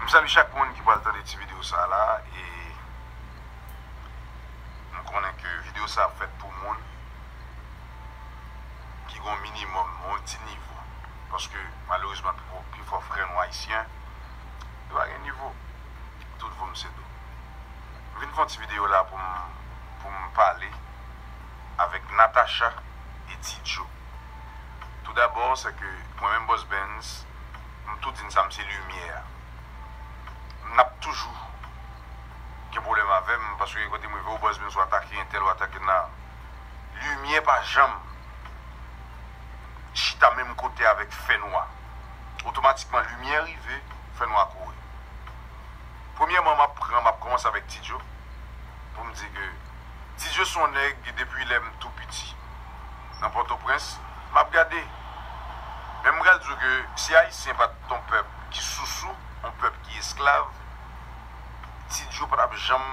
Msali chak moun ki pral tande ti video sa la e mkonnen ke video sa ap fèt pou moun ki gon minimòm yon ti nivo paske malerezman pifò frè nou ayisyen yo pa gen nivo. tout voum se dou. M vin fon ti video la pou m pou m pale avek Natacha e ti Joe. Tou dabò se ke mwen menm Boss Benz m tou di n sa m se limyè a. M nap toujou gen pwoblèm avè m paske gen kote m rive o Boss Benz ou atake entèl ou atake nan. Limyè pa janm chita menm kote avek fè nwa. otomatikman limyè rive fè nwa kouri. Premyèman map pran map kòmanse avèk Ti Djo pou m di ke Ti Djo son nèg ke depi lè m tou piti nan Pòtoprens map gade men m pral di w ke si Ayisyen pat on pèp ki sousou, on pèp ki esklav Ti Djo pa tap janm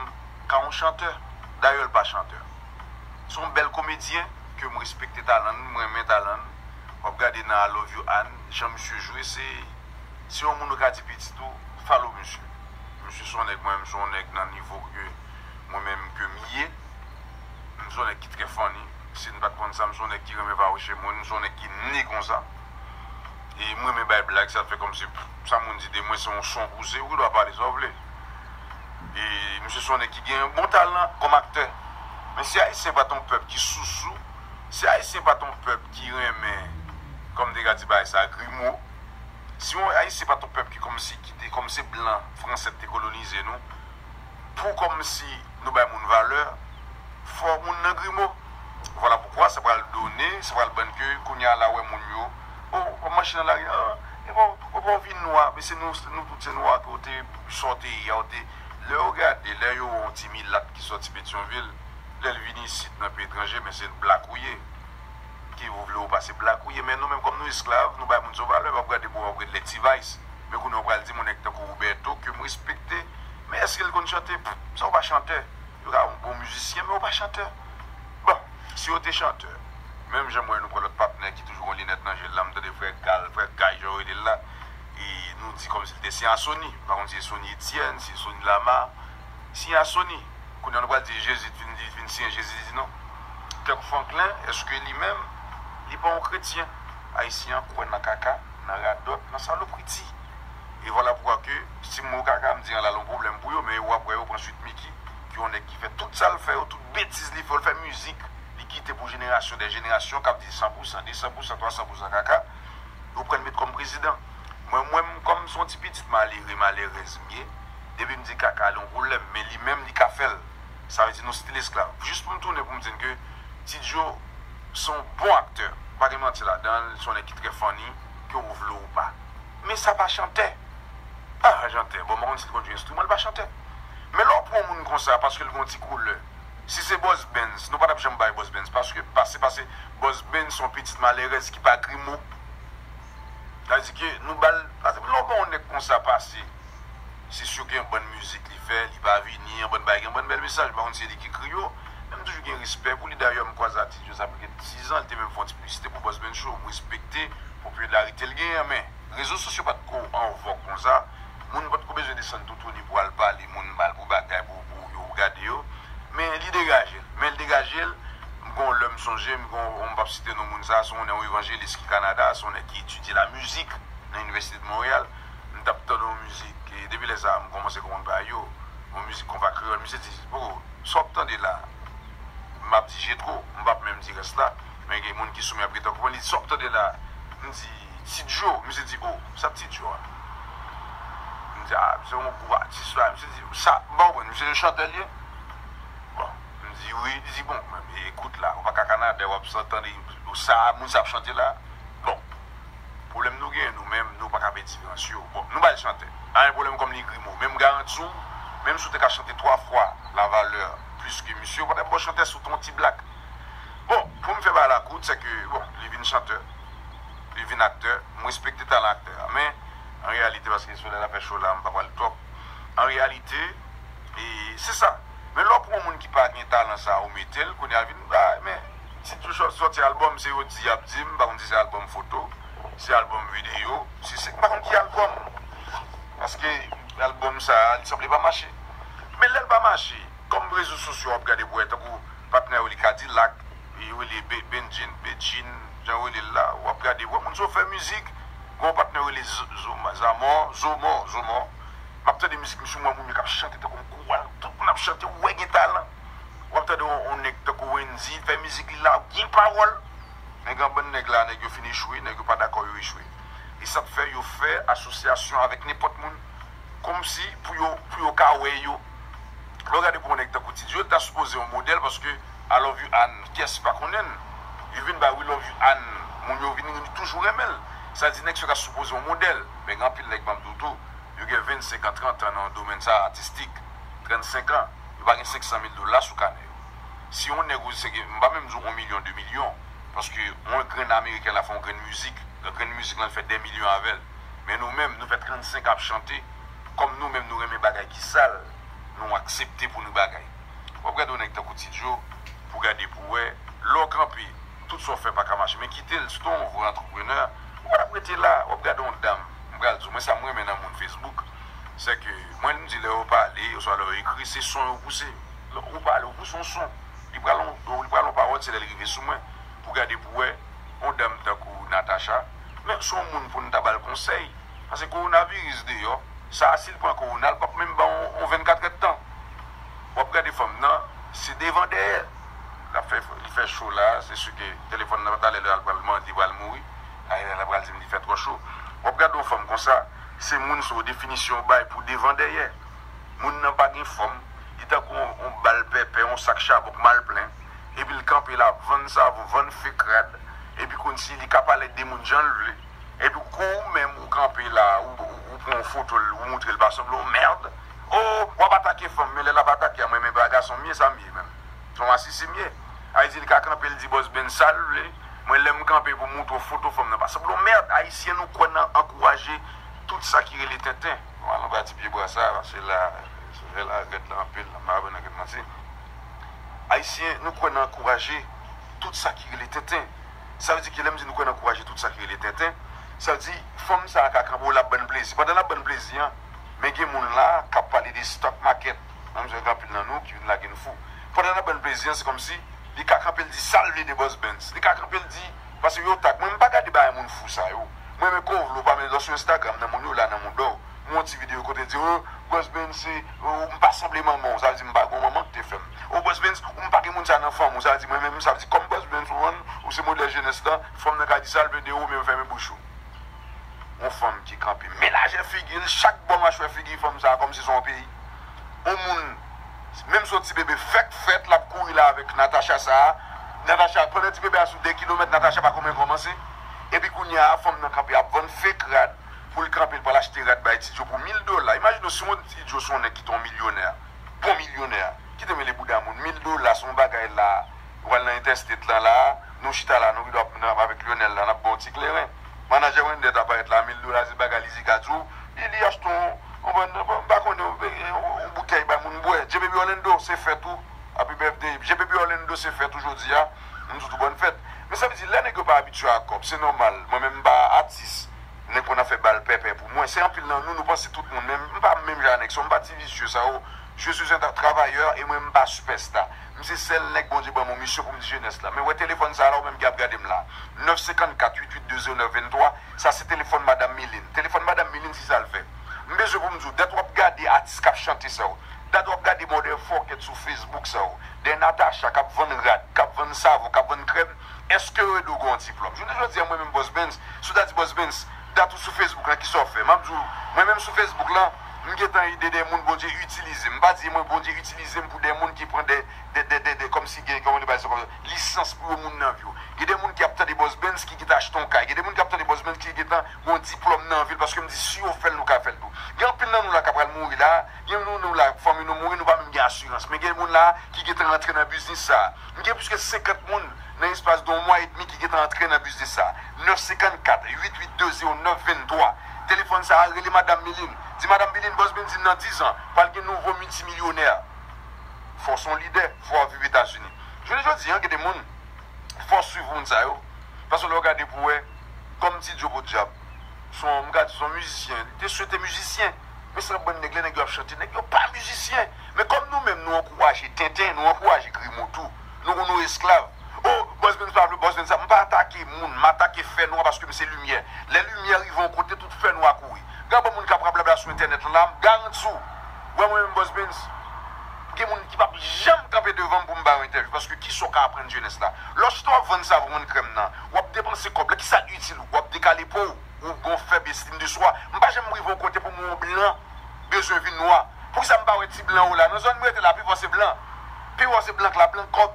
ka on chantè dayè l pa chantè son bèl komedyen ke m respekte talan n m renmen talan n. wap gade nan I love you Anne jan misye jwe se se yon moun ou ka di pitit ou follow misye misye son nèg mwen menm son nèg nan nivo ke mwen menm ke m ye m son nèg ki trè funny si n pat konn sa m son nèg ki renmen vawouche moun m son nèg ki né konsa e m renmen bay blag sa fè kòmsi sa moun di de mwen se yon son pouse ou gen dwa pale sa w vle e misye son nèg ki gen yon bon talan kòm aktè men si ayisyen pat yon pèp ki sousou si ayisyen pat yon pèp. ki renmen kòm dega ti bagay sa grimo si yon ayisyen pat yon pèp ki kòmsi ki te kòmsi blan fransè ki te kolonize nou pou kòmsi nou bay moun valè fò moun nan grimo vwala poukwa sa pral done sa pral bann ke kounya la wè moun yo o wap mache nan lari an epa ou epa ou vin nwa men se nou nou tout se nwa ke ou te sa ou te ye a ou te lè yo gade lè yo wè yon ti milat ki sòti petyonvil lèl vin isit nan peyi etranje men se blak ou ye. Ke ou vle ou pa se black ou ye men nou menm kòm nou esklav nou bay moun son valè wap gade bouwa wap gade lè T-vice men kounye ou pral di moun nèg tankou Roberto kem respekte men eskel konn chante pff sa ou pa chantè yo ka yon bon mizisyen men ou pa chantè bon si yo te chantè menm janm wè nou pran lòt patnè ki toujou gon linèt nan jel la mtande frè gal frè guy jan yo relel la e nou di kòmsi li te se a Sony mpa konn si se Sony Etienne si se Sony Lamar. Siy a soni. Kounye a nou pral di Jezi t vin li t vin siyen Jezi t di non. Kirk Franklin eske li menm li pa yon kretyen? Ayisyen an kwè nan kaka, nan radòt, nan salopriti. E vwala poukwa ke si m wè yon kaka m di an la l yon pwoblèm pou yo men yo apre yo pran Sweet Micky ki yon nèg ki fè tout sa l fè yo, tout betiz li fè yo l fè mizik li kite pou jenerasyon dè jenerasyon k ap di san pou san, de san pou san, twa san pou san kaka yo pran l met kòm prezidan. Mwen menm kòm se yon ti pitit malere, malèrèz m ye. Depim di kaka li yon pwoblèm men li menm li ka fèl sa vle di nou stil esklav jis poum tounen poum di n ke ti djo se yon bon aktè pa gen manti ladan l se yon nèg ki trè funny ke ou vle ou pa men sa pa chantè pa chantè bon m pa konn si li konn jwe enstriman li pa chantè men lè w pran yon moun konsa paske l gen yon ti koulè si se Boss Benz nou pa tap janm bay Boss Benz paske pase pase Boss Benz se yon pitit malerèz ki pa grimo. Sa vle di ke nou bal, pa egzanp lè w ban yon nèg konsa pase, se si gen yon bann mizik li fè, li pa vini, yon bann bagay, gen yon bann bèl mesaj, m pa konn si se li ki ekri yo, men m toujou gen respè pou li, dayè m kwaze atis yo sa pral gen 10 an, li te menm fè yon ti piblisite pou Bossman Show, m respekte popilarite l genyen, men rezo sosyo pa t ko an vòg konsa. Moun potko bezwen desann toutouni pou al pale moun mal pou bagay pou pou yo gade yo men li degajel men li degajel m gen yon lè m sonje m gen yon m pap site non moun sa se yon nè yon evanjelis ki Canada se yon nèg ki etidye la mizik nan inivèsite de Montréal m tap tande yon mizik e depi lè sa m komanse konprann bagay yo yon mizik konpa kreyòl misye di bro sa wap tande la m pap di Jetro m pap menm di rès la men gen moun ki sou men ap gentan konprann li di sa wap tande la m di. Ti djo, misye di oh, sa p ti djo a? M di a, se yon gwo atis la, misye di, sa, m pa konprann, misye se chantè l ye? Bon, m di wi, li di bon, men ekout la, ou pa ka Kanada w ap san tande sa moun sa ap chante la, bon, pwoblèm nou genyen nou menm, nou pa ka pèdi rans yo, bon, nou ba l chantè, pa gen pwoblèm kòm li grimo, men m garanti w, menm si w te ka chante 3 fwa la valè plis ke misye, ou pa t ap gen yon chantè sou ton ti blak. Bon, pou m fè bagay la kout, sèke, bon, li vin chantè. li vin aktè, m respekte talan aktè a men an reyalite paske solèy la fè cho la m pa pral twòp an reyalite e se sa men lè w pran yon moun ki pa gen talan sa ou mete l kounye a vin ba men si tou chòt sòti albòm se yo di y ap di m pa konn si se albòm foto si albòm videyo si se m pa konn ki albòm paske albòm sa li sanble pa mache men lè l pa mache kòm rezo sosyo w ap gade pou wè tankou patnè w li kadilak Li rele Bendjine, Bedjine, jan yo rele l la. Ou ap gade, ou wè moun sa w fè mizik, gen yon patnè yo rele Zamò, Zomò, Zomò. M ap tande mizik misye, m wè moun yo k ap chante tankou yon kowal, tout moun ap chante, ou wè gen talan. Ou ap tande yon nèg tankou Wendyy fè mizik li la, gen pawòl. Men gen yon bann nèg la, nèg yo fin echwe, nèg yo pa dakò yo echwe. E sa k fè yo fè asosyasyon avèk nenpòt moun kòmsi pou yo ka wè yo. Lè w gade pou yon nèg tankou Tidio, l ta sipoze yon modèl paske. I love you Ann Kiyès ki pa konnenl Li vin bay we love you Ann Moun yo vin ri toujou renmenl Sa di nèg sa ta sipoze yon modèl Men gen anpil nèg banm diw tou Yo gen 25 an 30 an nan domèn sa atistik 35 an Yo pa gen 500 mil dola sou kanè yo Si yon nèg oze sèke m pa menm diw 1 milyon 2 milyon Paske yon grenn ameriken la fè yon grenn mizik Nan grenn mizik lan li fè dè milyon avèl Men nou menm nou fè 35 an ap chante Kòm nou menm nou renmen bagay ki sal Nou aksepte pou nou bagay. Wap gade yon nèg tankou Ti Djo pou gade pou wè, lè w kanpe tout sa w fè paka mache men kite l si t on vrè antreprenè ou pa tap rete la wap gade yon dam m pral di w mwen sa m renmen nan moun Facebook se ke mwen m di lè yo pale oswa lè yo ekri se son yo pouse lè ou pale ou pouse yon son li pral yon li pral yon pawòl se lè l rive sou mwen pou gade pou wè yon dam tankou Natacha men se yon moun pou n ta ba l konsèy pase kowonaviris deyò sa a si l pran kowona l pap menm ba w yon 24 èdtan Wap gade fanm nan se devan dèyè lap fè li fè cho la se su ke telefòn nan talè lè al pral mande li pral mouri ayy la pral dim li fè trò cho wap gade yon fanm konsa se moun sa w definisyon w bay pou devan dèyè moun nan pa gen fòm li tankou yon bal pèpè yon sak chabon k mal plen epi l kanpe la ap vann savon vann fek rad epi konsi li ka pale ak de moun jan l vle epi kou ou menm ou kanpe la ou pran yon foto l ou moutre l pa sanble yon merd. Oh wap atake fanm men lè lap atake a mwen renmen bra gason m ye sa m ye menm son masisi m ye Haïti li ka kanpe li di boss Ben sal vle mwen lèm kanpe pou moutre w foto fanm nan pa sanble yon merd Haïtien nou kwè nan ankouraje tout sa ki rele tenten. Nou al anba ti pye bwa sa paske la soleil la rèd la anpil la m pa vle nan ket manti Haïtien nou kwè nan ankouraje tout sa ki rele tenten sa vle di ki lèm di nou kwè nan ankouraje tout sa ki rele tenten sa vle di fanm sa ka kanpe w lap ban n plezi pandan lap ban n plezi an Men gen moun la kap pale de stock market nan mizè gen anpil nan nou ki vin lage n fou pandan nap bann plezi an se kòmsi li ka kanpe l di sal vle de boss Bens li ka kanpe l di pase yo tag mwen m pa gade bagay moun fou sa yo m renmen kòw vle w pa vle lò sou Instagram nan moun yo la nan mouda w m wè yon ti video kote l di oh boss Bens se oh m pa sanble manman w sa vle di m pa gen yon manman ki te fè m oh boss Bens ou m pa gen moun sa nan fanm ou sa vle di mwen menm sa vle di kòm boss Bens ou wè m ou se modèl jenès lan fanm nan ka di sal vle de ou men fèmen bouch ou. yon fanm ki kanpe menaje figi l chak bò machwè figi fanm sa kòmsi se yon peyi yon moun menm si yon ti bebe fèk fèt lap kouri la avèk Natacha sa Natacha pandan ti bebe a sou 2 kilomèt Natacha pa konmen kòmanse epi kounye a fanm nan kanpe ap vann fake rad pou l kanpe l pral achte rad bay Ti Djo pou 1000 dola imajine w si yon Ti Djo se yon nèg ki te yon milyonè bon milyonè kite mele bouda moun 1000 dola se yon bagay la ou pral nan entèstet lan la nou chita la nou rive ap avèk Lyonel la nap ba w ti kleren. Manager Wender ta parèt la 1000 dola se bagay li di ka diw li li achte yon m pa konnen yon boutèy bay moun bwè Jbaby Orlando se fèt ou Happy birthday Jbaby Orlando se fèt ou jodi a m sot ou bòn fèt men sa vle di lè nèg yo pa abitye ak kòb se nòmal mwen menm m pa atis nèg konn ap fè bal pèpè pou mwen se anpil nan nou nou panse tout moun men m pa menm jan a nèg sa yo m pa ti visye sa yo je suis un travailleur e mwen m pa sipèsta. M se sèl nèg Bondye ban m yon misyon pou m di jenès la. Men wè telefòn sa a la ou menm ki ap gade m la a. 9 54 88 20 9 23, sa se telefòn madam Milin. Telefòn madam Milin si sa l fè. M bezwen pou m di w, dat w ap gade atis k ap chante sa yo, dat w ap gade mòdèl fòkèt sou fesbouk sa yo, dè Natacha k ap vann rad, k ap vann savon, k ap vann krèm, èske yo ede w gen yon diplòm? Jounen jodi a mwen menm Boss Benz, si w ta di Boss Benz, dat ou sou Facebook la kisa ou fè map diw mwen menm sou Facebook la m gentan ede de moun Bondye itilize m pa di mwen Bondye itilize m pou de moun ki pran de kòmsi gen kòman nou pale sa lisans pou yo moun nan vi yo gen de moun ki ap tande Bòsbens ki gentan achte yon kay gen de moun ki ap tande Bòsbens ki gentan gen yon diplòm nan vil paske m di si yo fèl nou ka fèl tou gen anpil nan nou la ka pral mouri la gen nou la fanmi nou mouri nou pa menm gen asirans men gen moun la ki gentan rantre nan biznis sa. M gen plis ke 50 moun nan espas de yon mwa edmi ki gentan antre nan biznis sa. 9 54 882 09 23 Telefòn sa a rele Madam Milin. Di Madam Milin Bòs Benzin nan 10 an pral gen nouvo miltimilyonè. Fò w se yon lidè, fò w ap viv Etazini. Jounen jodi an gen de moun fò w swiv moun sa yo paske lè w gade pou w wè kòm Ti Djo podyab se yon m ka di se yon mizisyen. Li te swete mizisyen men sa bann nèg lè nèg yo ap chante nèg yo pa mizisyen. Men kòm nou menm nou ankouraje tenten, nou ankouraje grimo tou. Nou konn nou esklav. Oh, Bòs Benz pa vle, Bòs Benz sa. M pa atake moun, m atake fè nwa paske m se limyè. Lè limyè rive yon kote, tout fè nwa kouri. Gad bon moun k ap rablabla sou entènèt lan la, m garanti w, wè mwen menm Bòs Benz, gen moun ki p ap janm kanpe devan m pou m ba yo entèvyou paske ki sa w ka aprann jenès la? Lè w chita w ap vann savon, vann krèm nan, w ap depanse kòb la, ki sa itil ou? W ap dekale po w, ou gen yon fèb estim de swa. M pa janm rive yon kote pou m wè yon blan. bezwen vin nwa poukisa mpa wè ti blan yo la nan zòn m rete la pifò se blan pifò se blan k la blan kòk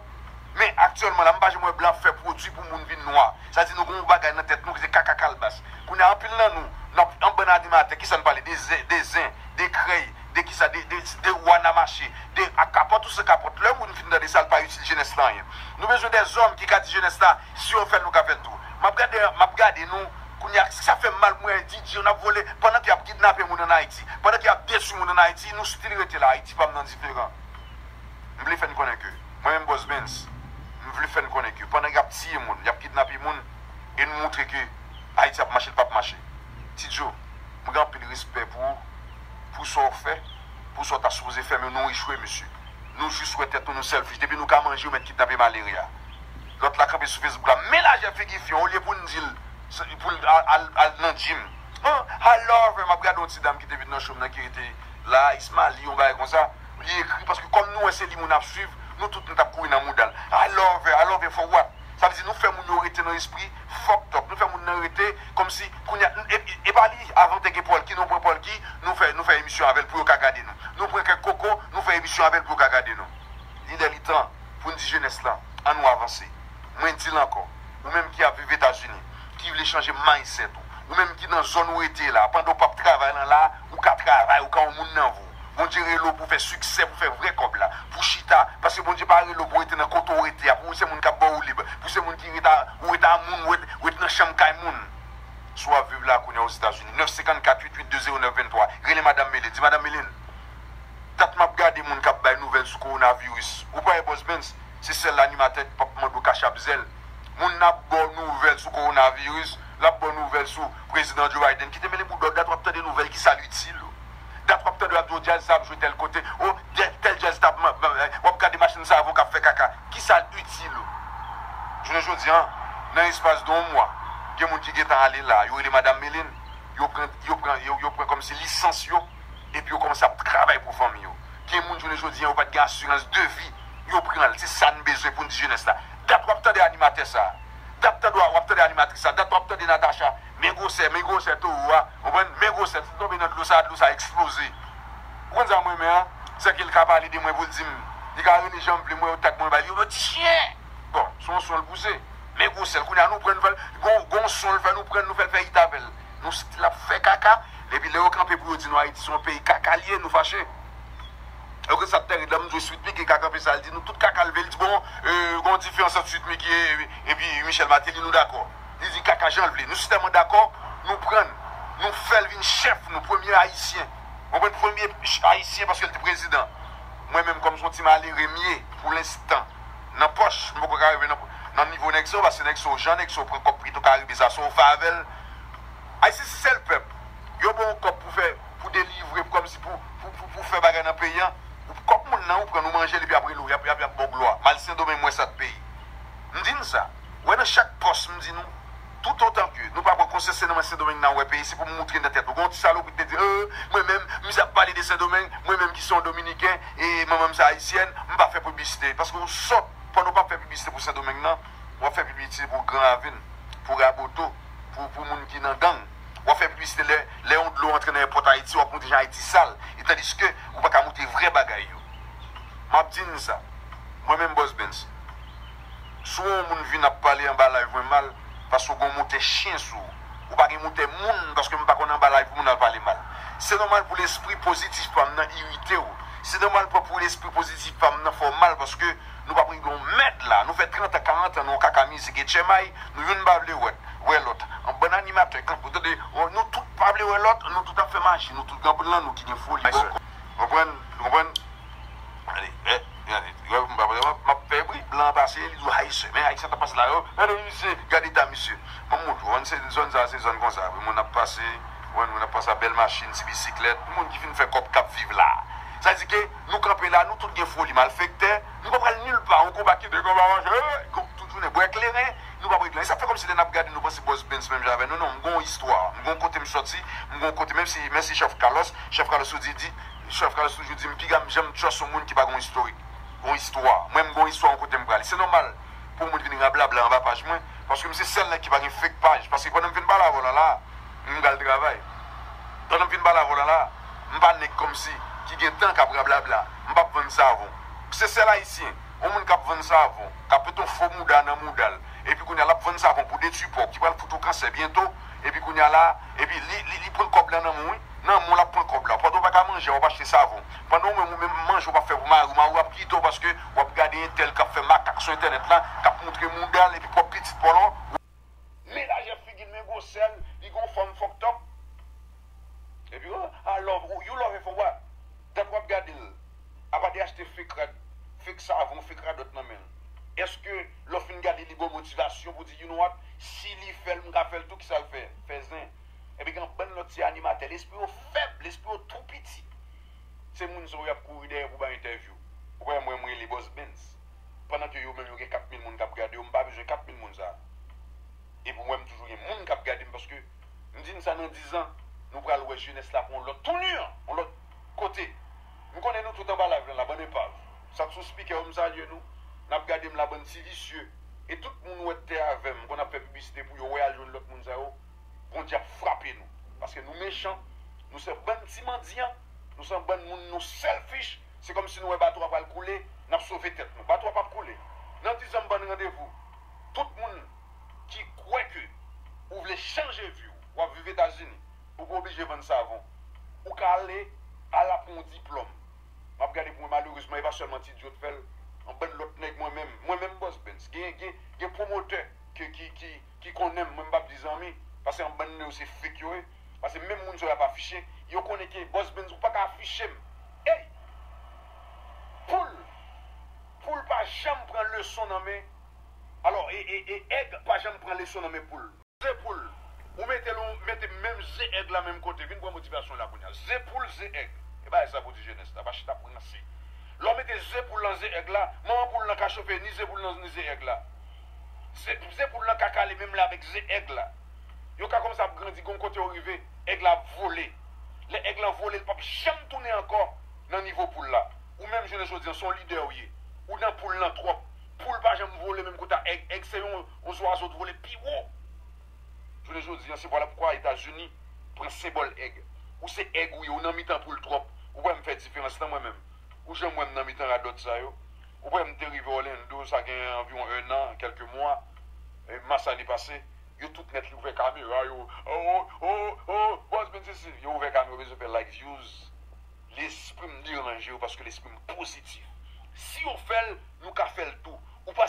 men aktyèlman la mpa janm wè blan ap fè pwodwi pou moun vin nwa sa di nou gen yon bagay nan tèt nou ki se kaka kalbas kounye a anpil nan nou nap an bann animatè kisa n pale de zen de zen de krèy de kisa de de de wana mache de ak kapòt ou san kapòt lè moun fin tande sa l pa itil jenès la anyen nou bezwen de zòm ki ka di jenès la si yo fèl nou ka fèl tou map gade map gade nou. Kounya sa fèm mal pou mwen di di yo nap vole pandan ke yap kidnape moun an ayiti pandan ke yap detwi moun an ayiti nou stil rete la ayiti pam nan diferan m vle fèn konnen ke mwen menm bòs bens m vle fèn konnen ke pandan yap tiye moun yap kidnape moun e nou moutre ke ayiti ap mache li pap mache ti djo m gen anpil respè pou ou pou sa w fè pou sa w ta sipoze fè men nou echwe mesye nou jis wè tèt nou nou sèlfish depi nou ka manje yo mèt kidnape malere a. Lòt la kanpe sou Facebook la men lajè figi fi an olye poun dil poul al nan gym han ha love map gade yon ti dam kite vin nan chom nan ki rete la ismalie yon bagay konsa li ekri paske kòm nou wè se li moun ap swiv nou tout nou tap kouri nan moudal ha love ha love for what sa vle di nou fè moun yo rete nan espri fucked up nou fè moun nan rete kòmsi kounya epa li avan te gen polky nou pran polky nou fè nou fè emisyon avèl pou yo ka gade nou nou pran kèk koko nou fè emisyon avèl pou yo ka gade nou li lè li tan. pou n di jenès lan, an nou avanse. Mwen di l ankò, ou menm ki ap viv Etazini, ki vle chanje mindset ou, ou menm ki nan zòn ou rete la, pandan ou pap travay lan la, ou ka travay, ou ka yon moun nan vou. Bondye rele w pou w fè siksè, pou w fè vrè kòb la, pou w chita, paske Bondye pa rele w pou w rete nan kote w rete a, pou w se moun k ap ba w woulib, pou w se moun ki ret a, ou ret a moun, ou ret nan chanm kay moun. Si w ap viv la kounye a Ozetazini, 954 882 0923, rele Madam Mele, di Madam Mele n. Dat map gade moun kap bay nouvel sou coronavirus ou pa wè boss Bens se sel animatè ki pap mandew cash app zèl moun ap baw nouvel sou coronavirus lap baw nouvel sou prezidan Joe Biden kite mele boudaw dat wap tande nouvel kisal itil ou dat wap tande yo ap di w jazz sa ap jwe tel kote oh tel jazz tap wap gade machin savon kap fè kaka kisal itil ou jounen jodi an nan espas de yon mwa gen moun ki gentan ale la yo rele madam Meline yo pran yo pran yo pran komsi lisans yo. epi yo kòmanse ap travay pou fanmi yo. Gen moun jounen jodi an yo pa t gen asirans de vi, yo pran l. Se sa n bezwen pou n di jenès la. Dat w ap tande animatè sa a, dat tande w ap tande animatris sa a, dat w ap tande Natacha, men gwosè, men gwosè towo a, ou konprann, men gwosè, si l tonbe nan dlo sa a, dlo sa a eksploze. Ou konn sa m renmen an? Se ke l ka pale de mwen pou l di m, li ka rele jan l vle, mwen yo tag mwen bay li, yo ti chyen! Bon, se yon son l pouse, men gwosè l. Kounye a nou pran, nou fè l, gen yon son l fè, nou pran l, nou fè l fè it avè l. Nou stil ap fè kaka epi lè yo kanpe pou yo di nou ayiti son peyi kaka liye nou fache ok sat tèred la mnzwe sweet micky ka kanpe sal di nou tout kaka lvel di bon gon diferans ant sweet micky epi michel mateli nou dakò li di kaka janl vle nou sitèman dakò nou prann nou fèl vin chèf nou premye ayisyen konprann premye ayisyen paskel te prezidan mwen menm kòm son ti malere mye pou lenstan nan pòch mpoko ka rive nan nivo nèg sayo paske nèg sayo jan nèg sayo pran kòb pito karibe sa sayo fè avèl. Ayisyen se sèl pèp yo ba yon kòb pou fè pou delivre pou kòmsi pou pou fè bagay nan peyi an ou kòb moun nan ou prann ou manjel epi ap rele w yap yap baw glwa mal sendomeng mwen sat peyi m di n sa wè nan chak pòs m di nou toutotan ke nou pa pran konsyans se nan men sendomeng nan wè peyi se pou m moutre nan tèt ou gen yon ti salopri ki te di oo mwen menm m zap pale de sendomeng mwen menm ki se yon dominiken e manman m se ayisyèn m pa fè piblisite paske ou sòt pandan w pap fè piblisite pou sendomeng nan wap fè pibisite pou gran avin, pou raboto, pou pou moun ki nan gang, wap fè pibisite lè lè yon dlo antre nan èpòt ayiti wap montre jan ayiti sal e tandiske ou paka montre vrè bagay yo map di nou sa mwen menm Boss Bens si w wè yon moun vin ap pale anba live mwen mal paske w gen yon montè chyen sou ou ou pa gen montè moun paske m pa konn anba live pou moun al pale mal se nòmal pou lespri pozitif pa m nan irite w se nòmal pou lespri pozitif pa m nan fè w mal paske Nou pap regle yon mèd la. Nou fè 30 an 40 an nou yon kaka mizik e chèmay nou youn pa vle wè wè lòt. Yon bann animatè kanpe ou tande nou tout pa vle wè lòt nou tout ap fè maji nou tout gen anpil nan nou ki gen foli bò kò. Konprann nou konprann gade eh gade gade m pap map fè bri blan an pase li di w haisyen men haisyen tap pase la yo gade misye gad eta misye banm moun ou konprann se zòn sa se zòn konsa wi moun ap pase konprann moun ap pase a bèl machin ti bisiklèt moun ki fin fè kòb kap viv la sa vle di ke Nou kanpe la nou tout gen foli malfektè nou pa pral nil pa yon konba kite konba manchè kont tout jounen bwè kleren nou pap regle anyen sa fè kòmsi lè nap gade nou panse bòs Bens menm jan avè nou non m gon istwa m gon kote m sòti m gon kote menm si mèsi chèf Kalòs chèf Kalòs tou di di chèf Kalòs toujou di m piga m janm trust yon moun ki pa gon istorik gon istwa mwen m gon istwa yon kote m prale se nòmal pou yon moun vin rablabla anba paj mwen paske m se sèl nèg ki pa gen fake paj paske pandan m fin pale avè w lan la m pral travay pandan m fin pale avè w lan la. M pa nèg kòmsi ki gen tan kap rablabla. M pap vann savon. M se sèl ayisyen. On moun kap vann savon, kap met on fo mouda nan mouda l. Epi kounya lap vann savon pou detui po ki pral fout ou kansè byento. Epi kounya la, epi li li pran kòb la nan men w wi. Nan men w lap pran kòb la. Pandan w paka manje a wap achte savon. Pandan ou menm ou menm manje ou pap fè pou mari w. Mari w ap kite w paske wap gade entèl kap fè makak sou entènèt la, kap moutre mouda l epi pwòp pitit paw lan. Men lajè figil men gwosèl li gon fòm fòk tòp epi oh ah love ou you love fò wap dat wap gadel apa de achte fek rad fek savon fek radòt nan menl eske lè w fin gadel li baw motivasyon pou di you know what si li fèl m ka fèl tou kisal fè fè zen epi gen yon bann lòt ti animatè lespri yo fèb lespri yo tou piti se moun sa yo yap kouri dèyè pou bay entèvyou ou pa wè m wè m rele bòs bens. pandan ke yo menm yo gen 4 mil moun kap gade yo, m pa bezwen 4 mil moun sa. Epi ou wè m toujou gen moun kap gade m paske m di n sa nan 10 ans nou pral wè jenès la pou yon lòt tounur, yon lòt kote. M konnen nou tout anba live lan la bann enpav. Sak sou speaker yo m salye nou, nap gade m la bann ti visye. E tout moun wè tè avè m, m konn ap fè piblisite pou yo wè al jwenn lòt moun sa yo, Bondye ap frape nou. Paske nou mechan, nou se bann ti mandyan, nou se bann moun nou selfish. Se kòm si nou wè bato a pral koule, n ap sove tèt nou. Bato a p ap koule. Nan dizan m bann randevou. Tout moun ki kwè ke ou vle chanje vi w, w ap viv Etazini, ou pa oblije vann savon. Ou ka ale a la pou yon diplòm. M ap gade pou mwen malerezman e pa sèlman ti Diot fè l. Yon bann lòt nèg mwen menm, mwen menm Bòs Bens, gen gen gen pwomotè ke ki ki ki konnen m, mwen m p ap di zanmi, pase yon bann nan yo se fake yo ye. Pase menm moun sa yo ap afiche yo konnen ke Boss Benz ou paka afiche m eyy poul poul pa janm pran leson nan men alò e e e èg pa janm pran leson nan men poul. Ze poul ou mete l ou mete m menm ze èg la menm kote vin pran motivasyon la kounya ze poul ze èg e bagay sa pou di jenès la pa chita ap ranse lè w mete ze poul nan ze èg la manman poul lan ka chofe ni ze poul nan ni ze èg la ze poul lan ka kale menm lè avèk ze èg la. Yo ka kòmanse ap grandi gen yon kote yo rive èg la ap vole lè èg lan vole li pap janm tounen ankò nan nivo poul la ou menm jounen jodi an son lidè ou ye ou nan poul lan twòp poul pa janm vole menm kote a èg èg se yon zwazo t vole pi wo jounen jodi an se vwala poukwa etazini pran senbòl èg ou se èg ou ye ou nan mitan poul twòp ou wèm fè diferans nan mwen menm ou janm wèm nan mitan radòt sa yo ou wèm te rive òlendo sa gen anviwon 1 an kèlke mwa mas ane pase. Yo tout nèt li ouvè kamera yo oh oh oh oh bòz men se si yo ouvè kamera bezwen fè like views lesprim deranje yo paske lesprim pozitif si yo fèl nou ka fèl tou ou pa